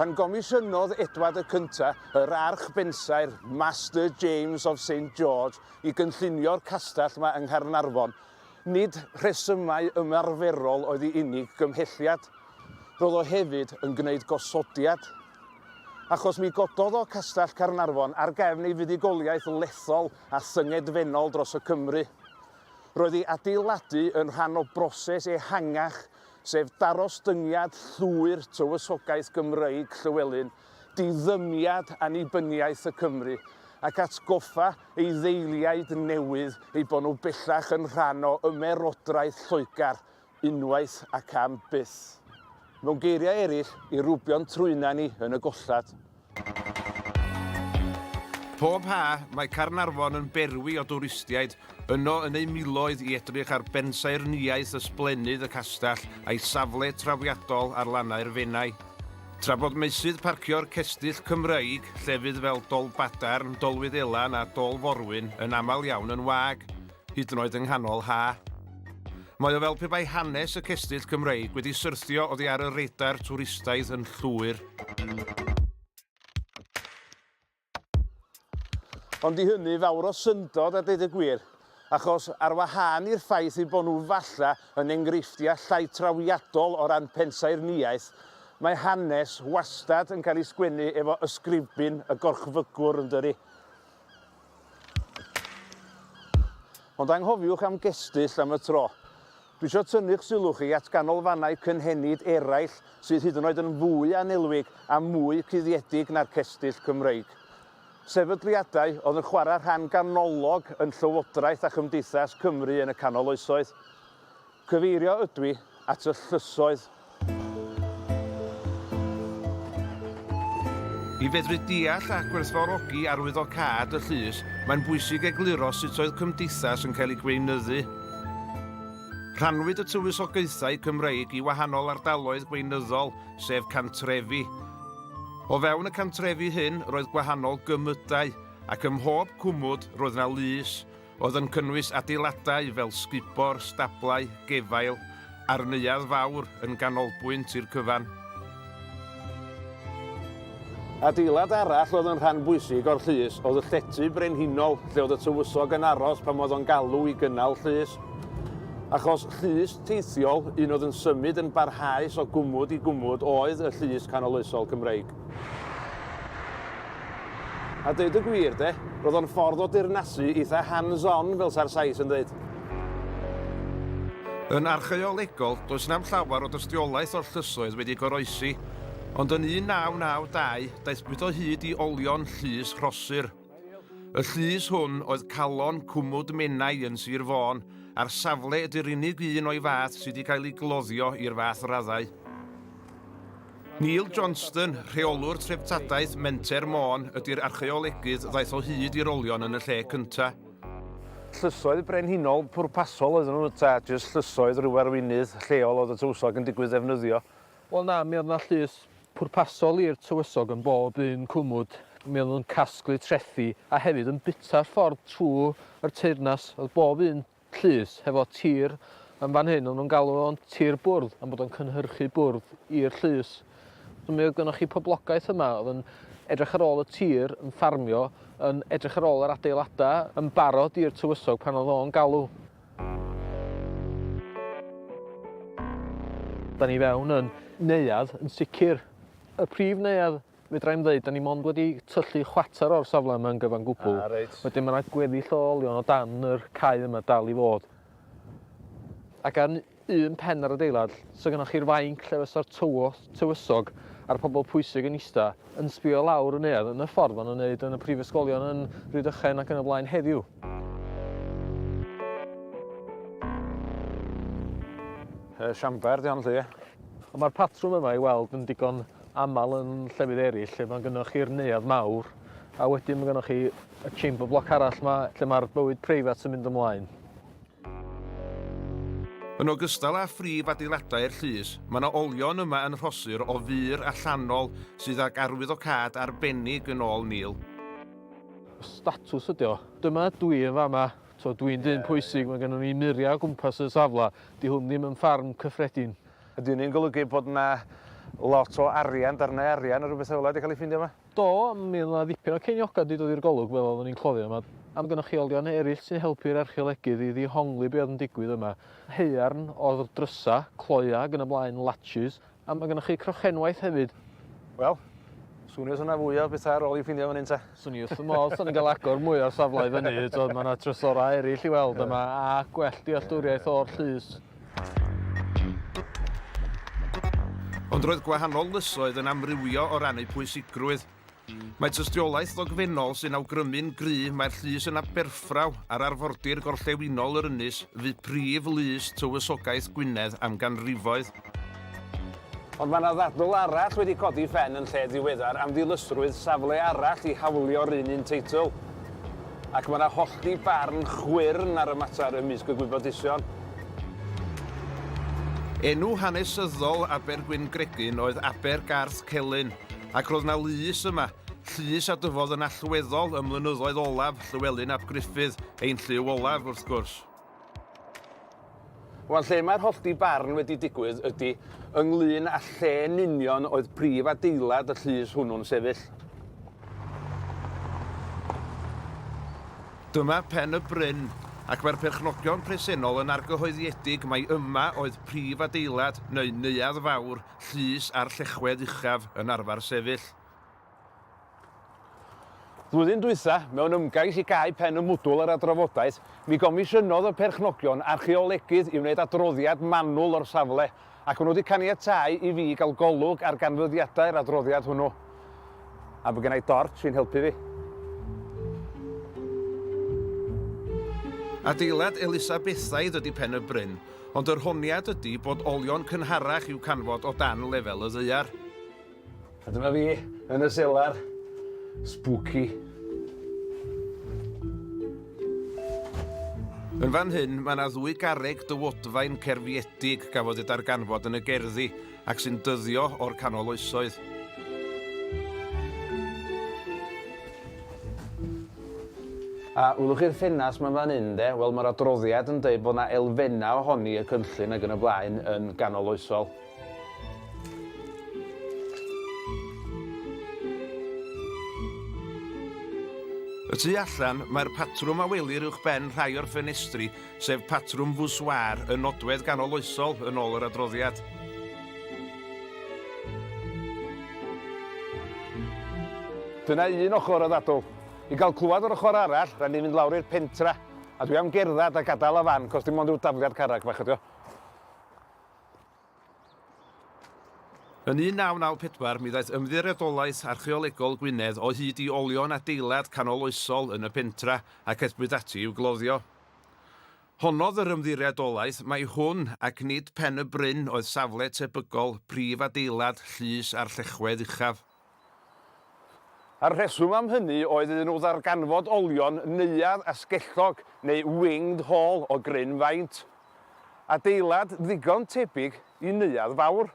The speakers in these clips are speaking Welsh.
Pan gomisiynodd Edward y Cyntaf, yr Archbensaer, Master James of Saint George, i gynllunio'r castell yma yng Nghaernarfon, nid rhesymau ymarferol oedd ei unig gymhelliad. Roedd o hefyd yn gwneud gosodiad. Achos mi gododd o Castell Caernarfon ar gefn ei fuddugoliaeth lethol a thyngedfennol dros y Cymry. Roedd ei adeiladu yn rhan o broses ehangach, sef darostyngiad llwyr tywysogaeth Gymreig Llywelyn, diddymiad annibyniaeth y Cymry, ac atgoffa ei ddeiliaid newydd eu bod nhw bellach yn rhan o Ymerodraeth Lloegr, unwaith ac am byth. Mewn geiriau eraill, i rwbio'n trwyna ni yn y gollad. Pob ha, mae Caernarfon yn berwi o dwristiaid, yno yn eu miloedd i edrych ar bensaernïaeth ysblennydd y castell a'i safle trawiadol ar lannau'r Fenai. Tra bod meysydd parcio'r cestyll Cymreig, llefydd fel Dolbadarn, Dolwyddelan a Dol Forwyn yn aml iawn yn wag, hyd yn oed yng nghanol ha'. Mae o fel pe bai hanes y cestyll Cymreig wedi syrthio oddi ar y radar twristaidd yn llwyr. Ond i hynny fawr o syndod a deud y gwir, achos ar wahân i'r ffaith eu bod nhw falle yn enghreifftiau llai trawiadol o ran pensaernïaeth, mae hanes wastad yn cael ei sgwennu efo ysgrifbyn y gorchfygwr, yndydi? Ond anghofiwch am gestyll am y tro. Dwi isio tynnu'ch sylw chi at ganolfannau cynhenid eraill sydd hyd yn oed yn fwy annelwig a mwy cuddiedig na'r cestyll Cymreig. Sefydliadau oedd yn chwarae rhan ganolog yn Llywodraeth a Chymdeithas Cymru yn y Canol Oesoedd. Cyfeirio ydw i at y llysoedd. I fedru deall a gwerthfawrogi arwyddocâd y llys, mae'n bwysig egluro sut oedd cymdeithas yn cael ei gweinyddu. Rhannwyd y tywysogaethau Cymreig i wahanol ardaloedd gweinyddol, sef cantrefi. O fewn y cantrefi hyn roedd gwahanol gymydau, ac ym mhob cwmwd roedd yna lys. Oedd yn cynnwys adeiladau fel sgubor, stablau, gefail a'r neuadd fawr yn ganolbwynt i'r cyfan. Adeilad arall oedd yn rhan bwysig o'r llys oedd y llety brenhinol lle oedd y tywysog yn aros pan oedd o'n galw i gynnal llys. Achos llys teithiol, un oedd yn symud yn barhaus o gwmwd i gwmwd oedd y Llys Canoloesol Cymreig. A deud y gwir de, roedd o'n ffordd o dirnasu eitha hands on fel sa'r Sais yn deud. Yn archaeolegol, does na'm llawer o dystiolaeth o'r llysoedd wedi goroesi, ond yn 1992 daethpwyd o hyd i olion llys Rhosyr. Y llys hwn oedd calon cwmwd Menai yn Sir Fôn, a'r safle ydy'r unig un o'i fath sydd wedi cael ei gloddio i'r fath raddau. Neil Johnston, rheolwr treftadaeth Menter Môn, ydy'r archeolegydd ddaeth o hyd i'r olion yn y lle cyntaf. Llysoedd brenhinol pwrpasol oedden nhw ta jyst llysoedd rhyw arweinydd lleol oedd y tywysog yn digwydd ddefnyddio. Wel na, mi oedd yna llys pwrpasol i'r tywysog yn bob un cwmwd, mi oedden nhw'n casglu trethi a hefyd yn bwyta'r ffordd trwy'r teyrnas, oedd bob un llys hefo tir yn fan hyn, oedden nhw'n galw fo'n tir bwrdd am bod o'n cynhyrchu bwrdd i'r llys. So mi oedd gynnwch chi poblogaeth yma oedd yn edrych ar ôl y tir, yn ffarmio, yn edrych ar ôl yr adeiladau, yn barod i'r tywysog pan oedd o'n galw. Da ni fewn yn neuadd, yn sicr y prif neuadd fedra i'm ddeud, da ni mond wedi tyllu chwater o'r safle yma yn gyfan gwbl. Ah, reit. Wedyn mae yna gweddill o olion o dan yr cae yma dal i fod. Ac ar un pen yr adeilad so gynnoch chi'r fainc lle fysa'r tywod tywysog a'r pobl pwysig yn ista yn sbio lawr y neuadd yn y ffordd maen nhw'n neud yn y prifysgolion yn Rhydychen ac yn y blaen heddiw. Y siamber di hon lly. Ond mae'r patrwm yma i weld yn digon aml yn llefydd eraill lle mae'n gynnoch chi'r neuadd mawr a wedyn mae gynnoch chi y chamber block arall yma lle mae'r bywyd preifat yn mynd ymlaen. Yn ogystal â phrif adeiladau'r llys, mae yna olion yma yn rhosur o fur allanol sydd ag arwyddocâd arbennig yn ôl Neil. Statws ydy o. Dyma dw i yn fama. T'mo, dw i'n dyn pwysig, mae gennym ni muriau o gwmpas y safle. 'Di hwn ddim yn ffarm cyffredin. Ydy hynny'n golygu bod 'na lot o arian, darnau arian neu rywbeth fel 'na 'di cael eu ffeindio yma? Do, mi oedd 'na ddipyn o ceiniogau wedi dod i'r golwg fel oeddwn i'n cloddio. Mae amgynrychiolion eraill sy'n helpu'r archeolegydd i ddihongli be oedd yn digwydd yma. Haearn oedd drysau, cloiau ac yn y blaen, latches, a mae gennych chi crochenwaith hefyd. Wel, swn i os oedd 'na fwy o bethau ar ôl i'w ffindio fan hyn ta? Swn i wrth fy modd, so ni'n cael agor mwy o'r safle i fyny, mae 'na drysorau eraill i weld yma a gwell dealltwriaeth o'r llys. Ond roedd gwahanol lysoedd yn amrywio o ran eu pwysigrwydd. Mae tystiolaeth ddogfennol sy'n awgrymu'n gryf mai'r llys yn Aberffraw, ar arfordir gorllewinol yr ynys, fu prif lys tywysogaeth Gwynedd am ganrifoedd. Ond mae yna ddadl arall wedi codi phen yn lle diweddar am ddilysrwydd safle arall i hawlio'r un un teitl. Ac mae yna hollti barn chwyrn ar y mater ymysg y gwybodusion. Enw hanesyddol Abergwyngregyn oedd Aber Garth Celyn, ac roedd yna lys yma, llys a dyfodd yn allweddol ym mlynyddoedd olaf Llywelyn ap Gruffydd, ein llyw olaf, wrth gwrs. Wel, lle mae'r hollti barn wedi digwydd ydy ynglŷn â lle yn union oedd prif adeilad y llys hwnnw'n sefyll. Dyma Pen y Bryn, ac mae'r perchnogion presennol yn argyhoeddiedig mai yma oedd prif adeilad neu neuadd fawr llys a'r llechwedd uchaf yn arfer sefyll. Flwyddyn dwytha, mewn ymgais i gau pen y mwdwl ar adrofodaeth, mi gomisiynodd y perchnogion archeolegydd i wneud adroddiad manwl o'r safle, ac maen nhw wedi caniatáu i fi gael golwg ar ganfyddiadau'r adroddiad hwnnw. A mae gennau dort sy'n helpu fi. Adeilad Elisabethaidd ydy Pen y Bryn, ond yr honiad ydy bod olion cynharach i'w canfod o dan lefel y ddaear. A dyma fi yn y selar. Spooky. Yn fan hyn, mae yna ddwy garreg dywodfaen cerfiedig gafodd eu darganfod yn y gerddi ac sy'n dyddio o'r canol oesoedd. A wylwch chi'r ffenas mae'n fan hyn de? Wel, mae'r adroddiad yn dweud bod yna elfennau ohoni y cynllun ac yn y blaen yn ganol oesol. Y tu allan, mae'r patrwm a welir uwch ben rhai o'r ffenestri, sef patrwm fwswar y nodwedd ganol oesol yn ôl yr adroddiad. Dyna un ochr o ddadl. I gael clywed o'r ochr arall, rhaid ni fynd lawr i'r pentra, a dwi am gerdded a gadael y fan, cos dim ond rhyw dafliad carreg fach ydi o. Yn 1994 mi ddaeth Ymddiriedolaeth Archaeolegol Gwynedd o hyd i olion adeilad canoloesol yn y pentra ac aethpwyd ati i'w gloddio. Honnodd yr Ymddiriedolaeth mai hwn ac nid Pen-y-bryn oedd safle tebygol prif adeilad llys a'r llechwedd uchaf. A'r rheswm am hynny oedd iddyn nhw ddarganfod olion neuadd asgellog neu winged haul o gryn faint. Adeilad ddigon tebyg i neuadd fawr.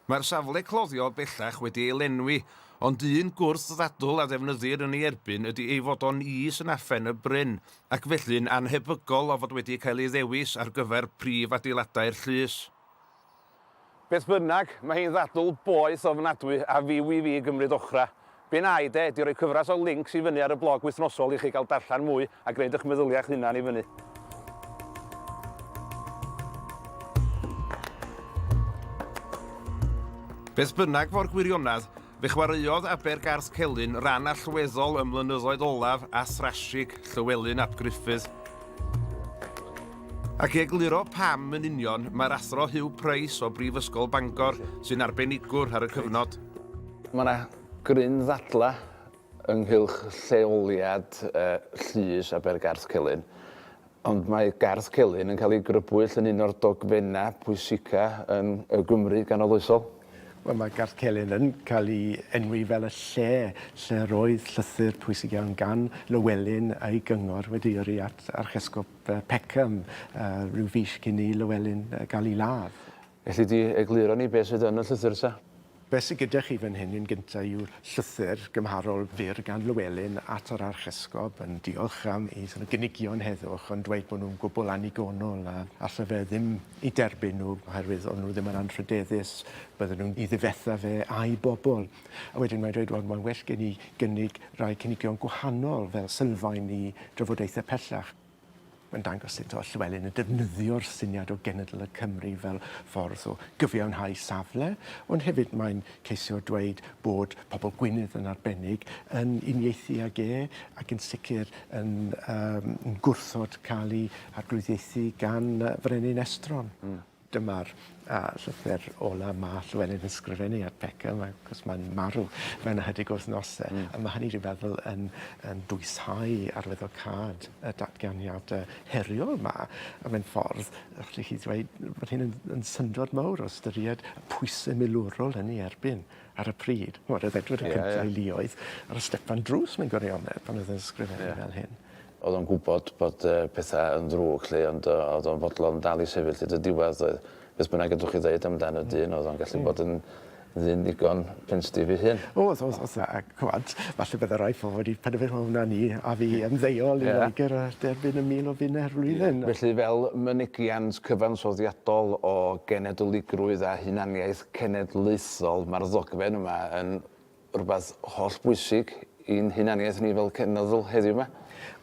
Mae'r safle cloddio bellach wedi ei lenwi, ond un gwrth ddadl a ddefnyddir yn ei erbyn ydy ei fod o'n is yn afen y bryn, ac felly'n annhebygol o fod wedi cael ei ddewis ar gyfer prif adeiladau'r llys. Beth bynnag, mae hi'n ddadl boeth ofnadwy a fyw i fi gymryd ochrau. Be wnâi de ydi rhoi cyfres o lincs i fyny ar y blog wythnosol i chi gael darllen mwy a gwneud eich meddyliau eich hunan i fyny. Beth bynnag fo'r gwirionedd, Fe chwaraeodd Aber Garth Celyn ran allweddol ym mlynyddoedd olaf Ath-Rashig, Llywelyn ap Gruffudd. Ac i egluro pam yn union, mae'r Athro Huw Price o Brifysgol Bangor sy'n arbenigwr ar y cyfnod. Mae yna gryn ddadlau ynghylch lleoliad llys Aber Garth Celyn Ond mae Garth Celyn yn cael ei grybwyll yn un o'r dogfennau pwysica yn y Gymru ganoloesol. Wel, mae Garth Celyn yn cael ei enwi fel y lle lle roedd llythyr pwysig iawn gan Lywelyn a'i gyngor wedi yrru at Archesgob Peckham rhyw fis cyn i Lywelyn gael ei ladd. Elli di egluro ni be sydd yn y llythyr ta? Be sy gyda chi fan hyn yn gynta yw llythyr gymharol fyr gan Llewelyn at yr Archesgob yn diolch am ei sort of gynigion heddwch ond dweud bod nhw'n gwbl annigonol a alle fe ddim i derbyn nhw oherwydd o'n nhw ddim yn anrhydeddus bydden nhw'n i ddifetha fe a'i bobl. A wedyn mae'n dweud wel mae'n well gen i gynnig rhai cynigion gwahanol fel sylfaen i drafodaethau pellach. Mae'n dangos sut o Llywelyn yn defnyddio'r syniad o genedl y Cymry fel ffordd o gyfiawnhau safle, ond hefyd mae'n ceisio dweud bod pobl Gwynedd yn arbennig yn uniaethu ag e ac yn sicr yn um, gwrthod cael ei arglwyddiaethu gan frenin estron. Mm. Dyma'r yy llythyr ola ma' Llewelyn yn sgrifennu at Beca mae 'c'os mae'n marw mewn ychydig wythnose. Hmm. A ma' hynny dwi feddwl yn yn dwysau arwyddocâd y datganiade heriol 'ma a mewn ffordd yy lle chi ddweud bod hyn yn yn syndod mowr o ystyried y pwyse milwrol yn ei erbyn ar y pryd. Ch'mod o'dd Edward y Cyntaf... Ie ie. ...i luoedd ar y stepan drws mewn gwirionedd pan o'dd e'n sgrifennu... Ie. ...fel hyn. O'dd o'n gwbod bod yy petha yn ddrwg 'lly ond yy o'dd o'n fodlon dal i sefyll hyd y diwedd doedd? Beth bynnag ydwch chi ddeud am dan y dyn o'dd o'n gallu bod yn ddyn ddigon penstiff 'i hun. O'dd o'dd o'dd a ch'mod falle bydde rai pobol wedi penderfynu o wna ni a fi ymddeol i Loegr a derbyn y mil o bunne yr flwyddyn. Felly fel mynegiant cyfansoddiadol o genedyligrwydd a hunaniaeth cenedlaethol ma'r ddogfen yma yn rhywbeth holl bwysig i'n hunaniaeth ni fel cenedl heddiw 'ma.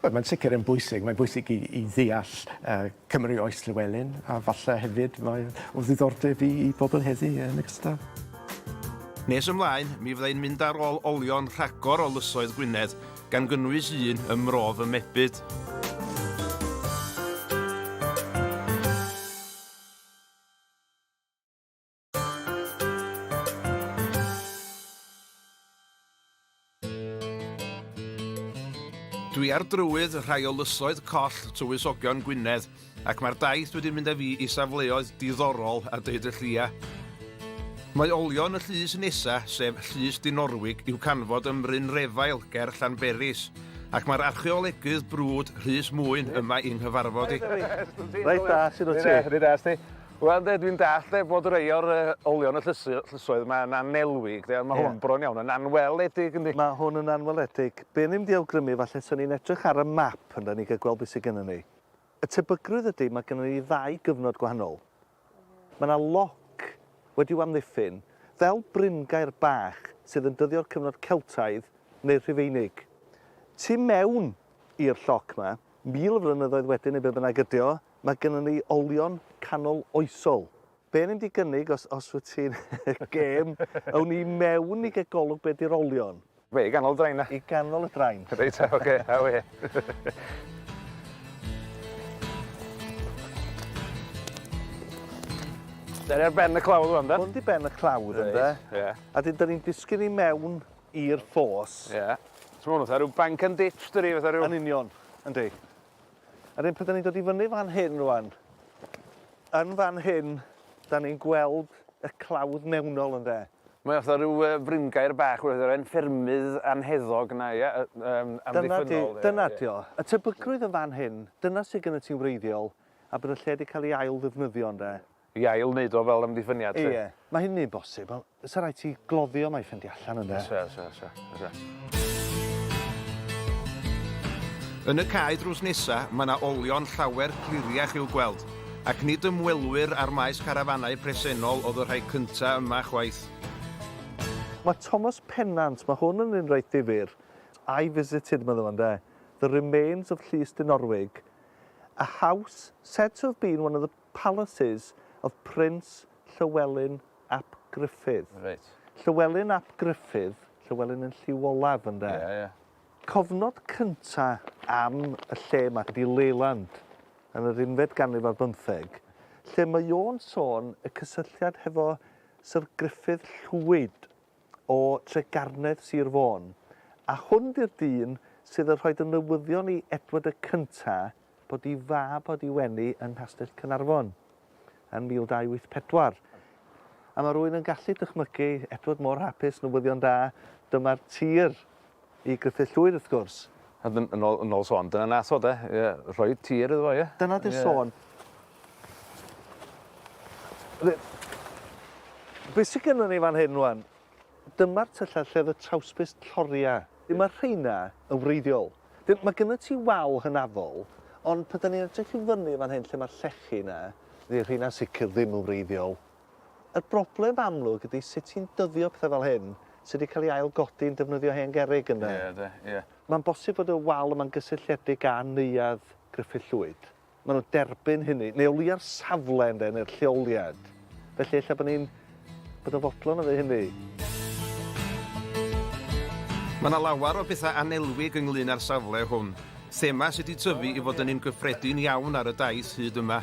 Wel, mae'n sicr yn bwysig. Mae'n bwysig i i ddeall yy Cymru oes Llywelyn, a falle hefyd mae o ddiddordeb i i bobl heddi yn ogystal. Nes ymlaen, mi fydda i'n mynd ar ôl olion rhagor o lysoedd Gwynedd, gan gynnwys un ym Mro fy Mebyd. Dwi ar drywydd rhai o lysoedd coll tywysogion Gwynedd, ac mae'r daith wedi mynd â fi i safleoedd diddorol a deud y llia. Mae olion y llys nesa, sef Llys Dinorwig, i'w canfod ym Mryn Refael ger Llanberis, ac mae'r archeolegydd brwd Rhys Mwyn yma i'n nghyfarfod i. Reit da, sut wyt ti? Reit da, sut wyt ti? Wel ynde, dwi'n dallt de, bod rhai o'r olion y llysu, llysoedd yma yn anelwig, de, ond mae yeah. hwn bron iawn yn anweledig, yndi? Mae hwn yn anweledig. Be ni'n di awgrymu, falle, so ni'n edrych ar y map yn da ni gael gweld beth sydd gennym ni. Y tebygrwydd ydy, mae gennym ni ddau gyfnod gwahanol. Mae yna loc wedi amddiffyn, fel bryngair bach sydd yn dyddio'r cyfnod Celtaidd neu'r Rhufeinig. Tu mewn i'r lloc yma, mil o flynyddoedd wedyn neu be bynnag ydy o, Mae gynnon ni olion canol oesol. Be o'n i'n mynd i gynnig os, os wyt ti'n gêm, awn ni mewn i gael golwg be di'r olion. Be, i ganol y drain na? I ganol y drain. Reit, oce, okay, aw e. Dyna ar ben y clawdd rwan, da? Hwn di ben y clawdd, right. ynddo? Ie. Yeah. A dyn, da ni'n disgyn i mewn i'r ffos. Ie. Yeah. So hwn, fatha rhyw bank and ditch, dyri, fatha rhyw... Yn union, yndi. Yr hyn pryd 'da ni'n dod i fyny fan hyn rwan, yn fan hyn, da ni'n gweld y clawdd mewnol ynde. Mae o fatha rhyw fringaer bach wrth yr 'en ffermydd anheddog 'na ia? Amddiffynnol. Dyna di o. Y tebygrwydd yn fan hyn, dyna sydd gennyt ti'n wreiddiol, a bod y lle di cael ei ail ddefnyddio ynde. I ail wneud o fel amddiffyniad 'lly. Ie. Mae hynny'n bosib ond 'sa raid ti gloddio mai ffindio allan ynde? O's e o's e o's e o's e. Yn y cae drws nesa, mae 'na olion llawer cliriach i'w gweld, ac nid ymwelwyr â'r maes carafanau presennol oedd y rhai cynta' yma chwaith. Mae Thomas Pennant, mae hwn yn un reit ddifyr. I visited, medda fo ynde, the remains of Llys Dinorwig, a house said to have been one of the Palaces of Prince Llywelyn ap Gruffudd. Reit. Llywelyn ap Gruffudd, Llywelyn yn lliw olaf ynde? Ie, ie. Cofnod cynta am y lle 'ma ydi Leyland yn yr unfed ganrif ar bymtheg, lle mae o'n sôn y cysylltiad hefo Syr Gruffudd Llwyd o Tregarnedd Sir Fôn, a hwn di'r dyn sydd yn rhoid y newyddion i Edward y Cynta bod i fab wedi wenu yn Nghastell Cynarfon yn 1284. A mae rhywun yn gallu dychmygu Edward mor hapus, newyddion da, dyma'r tir i Gruffydd Llwyd wrth gwrs. A dyn- yn ôl yn ôl sôn dyna nath o 'de? Ie rhoi tir iddo fo ie? Dyna 'di'r sôn. Be' be' sy gynnon ni fan hyn rŵan? Dyma'r tyllau lle o'dd y trawsbys lloria. Ie ma' rheina yn wreiddiol. Dyn- ma' gynnon ti wal hynafol ond pan 'dan ni'n edrych i fyny fan hyn lle ma'r llechi 'na, fydd rheina'n sicir ddim yn wreiddiol. Y broblem amlwg ydi sut ti'n dyddio petha fel hyn sy 'di cael ei ail-godi yn defnyddio hen gerrig ynde? Ie de, ie. Mae'n bosib fod y wal yma'n gysylltiedig â Neuadd Gruffydd Llwyd. Maen nhw'n derbyn hynny, neu o leia'r safle ynde, neu'r lleoliad. Felly ella bod ni'n bod yn fodlon o ddeud hynny. Mae yna lawer o bethau annelwig ynglŷn â'r safle hwn, thema sy 'di tyfu i fod yn un gyffredin iawn ar y daith hyd yma.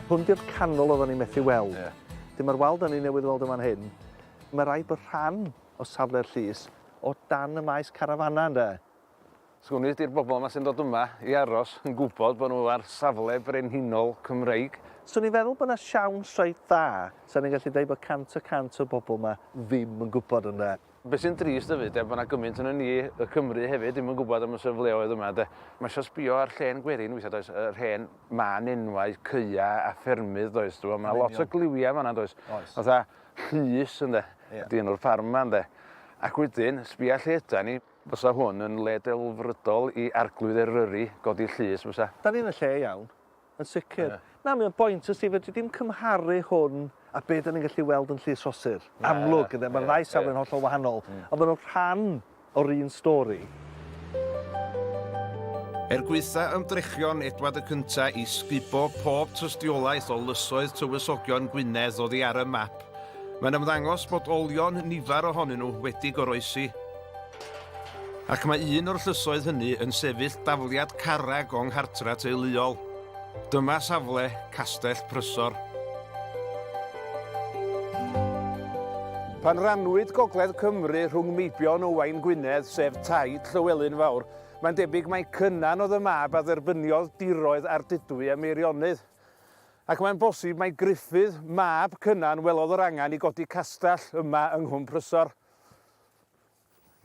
Hwn di'r canol odda ni methu weld. Ie. Dyn ma'r wal da ni newydd weld yn fan hyn, ma raid bod rhan o safle'r llys o dan y maes carafanau ynde? Sgwn i di'r bobl ma sy'n dod yma i aros yn gwybod bod nhw ar safle brenhinol Cymreig. Swn i'n feddwl bod na siawns reit dda, sa ni'n gallu deud bod cant y cant o'r bobl ma ddim yn gwybod ynde? Be sy'n drist hefyd de, bod 'na gymaint ohonon ni, y Cymry hefyd, ddim yn gwybod am y safleoedd yma de. Mae isio sbio ar llên gwerin weithiau does, yr hen mân enwau caea a ffermydd does, ti'n gwybod, mae 'na lot o gliwiau yn fan'na does. Oes. Fatha Llys ynde, ydy enw'r ffarm yma ynde. Ac wedyn, sbia lle ydan ni. Fysa hwn yn le delfrydol i Arglwydd Eryri godi llys, fysa? Dan ni yn y lle iawn. Yn sicr. Ie. Na mae o'n boint os ti fedri dim cymharu hwn a be' 'dan ni'n gallu weld yn Llys Rhosir. Na. Amlwg ynde ma'r ddau safle'n hollol wahanol. Hmm. Ond ma' nw rhan o'r un stori. Er gwaetha ymdrechion Edward y Cynta' i sgubo pob tystiolaeth o lysoedd tywysogion Gwynedd oddi ar y map, mae'n ymddangos bod olion nifer ohonyn nhw wedi goroesi. Ac mae un o'r llysoedd hynny yn sefyll dafliad carreg o'n nghartre teuluol. Dyma safle Castell Prysor. Pan rannwyd Gogledd Cymru rhwng Meibion Owain Gwynedd, sef taid Llywelyn Fawr, mae'n debyg mai Cynan oedd y mab a dderbyniodd diroedd Ardudwy a Meirionnydd. Ac mae'n bosib mai Gruffydd, mab Cynan, welodd yr angen i godi castell yma yng Nghwm Prysor.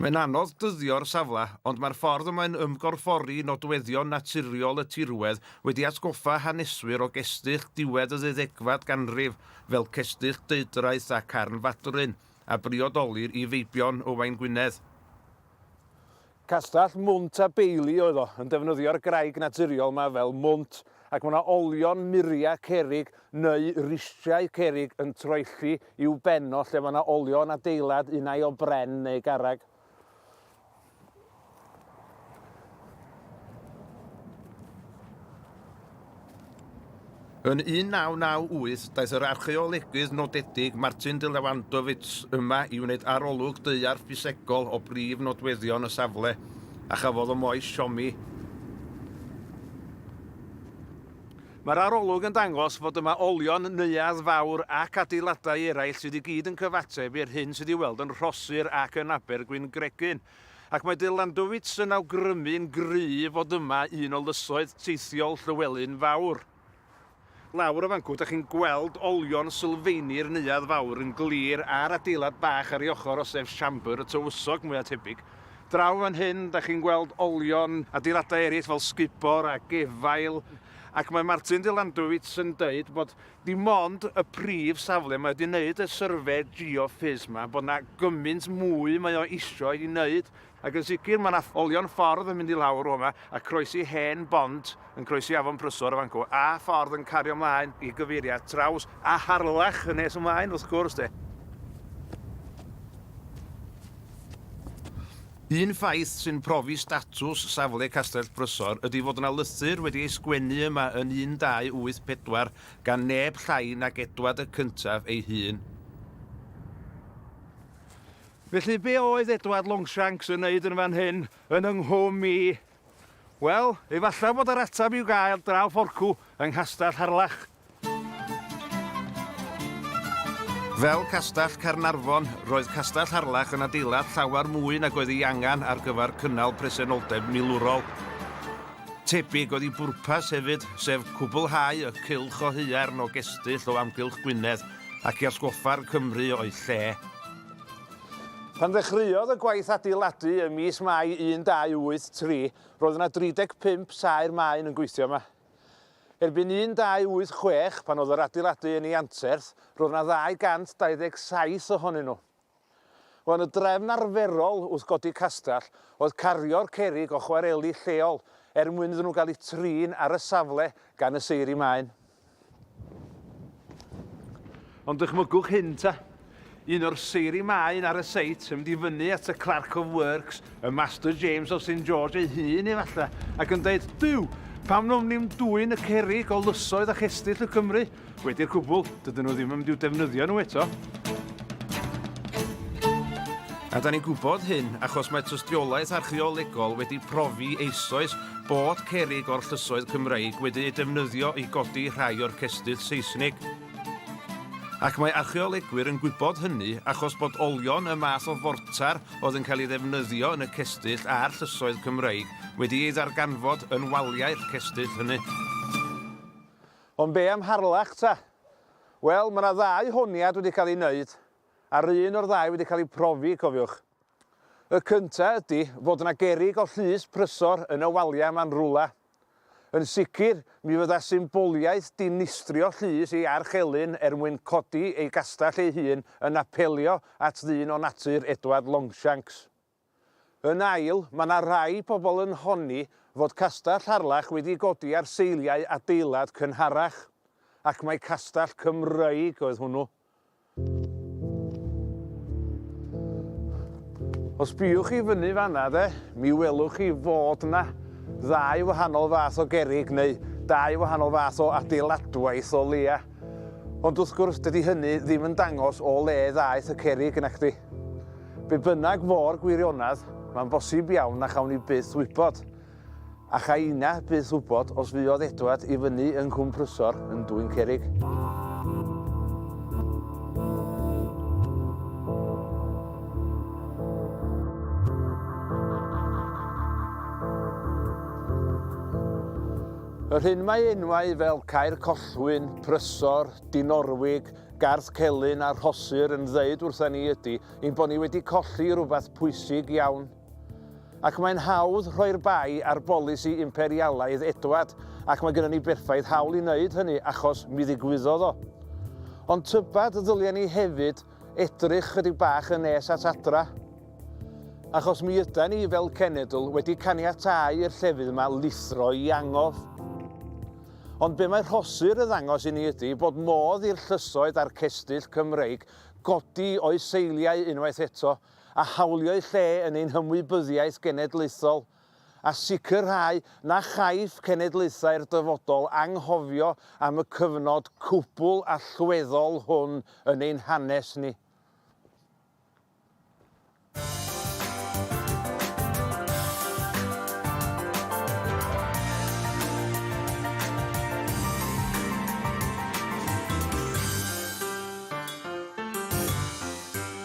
Mae'n anodd dyddio'r safle, ond mae'r ffordd y mae'n ymgorffori nodweddion naturiol y tirwedd wedi atgoffa haneswyr o gestyll diwedd y ddeuddegfad ganrif, fel cestyll Deudraeth a Carn Fadryn, a briodolir i feibion Owain Gwynedd. Castell Mwnt a Beili oedd o, yn defnyddio'r graig naturiol 'ma fel mwnt, ac mae 'na olion muria cerrig neu ristriau cerrig yn troelli i'w ben o lle mae yna olion adeilad unai o bren neu garreg. Yn 1998, daeth yr archeolegydd nodedig Martin de Lewandowicz yma i wneud arolwg daear ffisegol o brif nodweddion y safle, a chafodd y moes siomi. Mae'r arolwg yn dangos fod y mawrion, neuadd fawr ac adeiladau eraill sydd i gyd yn cyfateb i'r hyn sydd i'w weld yn Rhosyr ac yn Abergwyn Gregyn, ac mae De Landowitz yn awgrymu'n gryf fod yma un o lysoedd teithiol Llywelyn Fawr. Lawr y fancŵ dach chi'n gweld olion sylfeini'r neuadd fawr yn glir a'r adeilad bach ar ei ochr o sef siambr y tywysog mwya' tebyg. Draw fan hyn, da chi'n gweld olion adeiladau eraill fel sgubor a gefail, ac mae Martin de Landowitz yn dweud bod dim ond y prif safle mae wedi wneud y syrfe geoffys ma, bod yna gymaint mwy mae o isio i wneud, ac yn sicr mae yna olion ffordd yn mynd i lawr o yma a croesi hen bont. yn croesi afon Prysor y Fancŵ a ffordd yn cario ymlaen i gyfeiriad traws a Harlech yn nes ymlaen wrth gwrs de. Un ffaith sy'n profi statws safle Castell Prysor ydy fod yna lythyr wedi ei sgwennu yma yn 1284 gan neb llai nag Edward y Cyntaf ei hun. Felly be oedd Edward Longshanks yn wneud yn fan hyn yn yng nghwm i? Wel, efallai fod yr ateb i'w gael draw fforcw yng Nghastell Harlech. Fel Castell Caernarfon, roedd Castell Harlech yn adeilad llawer mwy nag oedd ei angen ar gyfer cynnal presenoldeb milwrol. Tebyg oedd ei bwrpas hefyd, sef cwblhau y cylch o haearn o gestyll o amgylch Gwynedd ac i atgoffa'r Cymry o'u lle. Pan ddechreuodd y gwaith adeiladu ym mis Mai 1283, roedd yna 35 saer maen yn gweithio yma. Erbyn 1286, pan oedd yr adeiladu yn ei anterth, roedd yna 227 ohonyn nhw. Wel, y drefn arferol wrth godi castell oedd cario'r cerrig o chwareli lleol er mwyn iddyn nhw gael eu trin ar y safle gan y seiri maen. Ond dychmygwch hyn ta. Un o'r seiri maen ar y seit yn mynd i fyny at y Clerk of Works, y Master James of St George ei hun efallai, ac yn dweud, Duw, pam nwm ni'n dwyn y cerig o lysoedd a chestyll y Cymru? Wedi'r cwbl, dydyn nhw ddim yn mynd i'w defnyddio nhw eto. A da ni'n gwybod hyn achos mae tystiolaeth archeolegol wedi profi eisoes bod cerrig o'r llysoedd Cymreig wedi'u defnyddio i godi rhai o'r cestyll Seisnig. Ac mae archeolegwyr yn gwybod hynny achos bod olion y math o fortar oedd yn cael ei ddefnyddio yn y cestyll a'r llysoedd Cymreig wedi ei ddarganfod yn waliau'r cestyll hynny. Ond be am Harlech ta? Wel, mae 'na ddau honiad wedi cael eu wneud, a'r un o'r ddau wedi cael ei profi, cofiwch. Y cynta ydi fod 'na gerrig o llys prysor yn y walia 'ma'n rwla. Yn sicr, mi fydda symboliaeth dinistrio llys ei arch elyn er mwyn codi ei gastell ei hun yn apelio at ddyn o natur Edward Longshanks. Yn ail, ma' 'na rai pobl yn honni fod castell Harlech wedi godi ar seiliau adeilad cynharach, ac mai castell Cymreig oedd hwnnw. Os biwch chi fyny fanna de, mi welwch chi fod yna ddau wahanol fath o gerig neu dau wahanol fath o adeiladwaith o leia. Ond wrth gwrs dydy hynny ddim yn dangos o le ddaeth y cerig yn acdi. Be bynnag fo'r gwirionedd, mae'n bosib iawn na chawn ni byth wybod. A cha i na byth wybod os fuodd Edward i fyny yng Nghwm Prysor yn dwyn cerrig. Yr hyn mae enwau fel Caer Collwyn, Prysor, Dinorwig, Garth Celyn a Rhosir yn ddeud wrtha ni ydy ein bod ni wedi colli rhywbeth pwysig iawn. Ac mae'n hawdd rhoi'r bai ar bolisi imperialaidd Edward, ac mae gennym ni berffaith hawl i wneud hynny achos mi ddigwyddodd o. Ond tybed y ddylia ni hefyd edrych chydig bach yn nes at adra? Achos mi yda ni fel cenedl wedi caniatau i'r llefydd yma lithro i angof. Ond be mae rhosur yn ddangos i ni ydy bod modd i'r llysoedd a'r cestyll Cymreig godi o'u seiliau unwaith eto a hawliau lle yn ein hymwybyddiaeth genedlaethol, a sicrhau na chaiff cenedlaethau'r dyfodol anghofio am y cyfnod cwbl allweddol hwn yn ein hanes ni.